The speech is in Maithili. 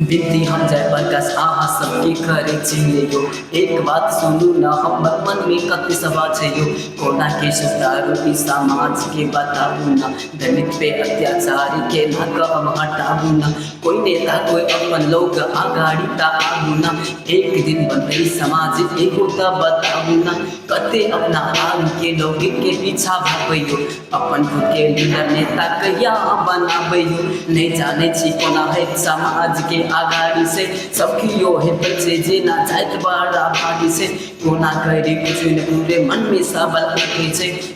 बिनती हम जय प्रकाश अहाँ सबके करै छियै यो एक बात सुनू न हमर मनमे कते सभा छै यो कोना के सुधारू ई समाज के बताबू न दलित पे अत्याचार के ना हम हटाबू न कोई नेता कोई अपन लोग अगाड़ी ता आबू न एक दिन बनतै समाज एगो ता बताबू न कते अपना आन के लोगे के पीछा भागबै यौ अपन खुद के लीडर नेता कहिया अहाँ बनाबै यौ नहि जानै छी कोना होइत समाज के आगाड़ी से सब कियो हेतै छै जेना जाइत बड़ा भागी से कोना करी कुछ ने पूरे मन में सबल रखै छै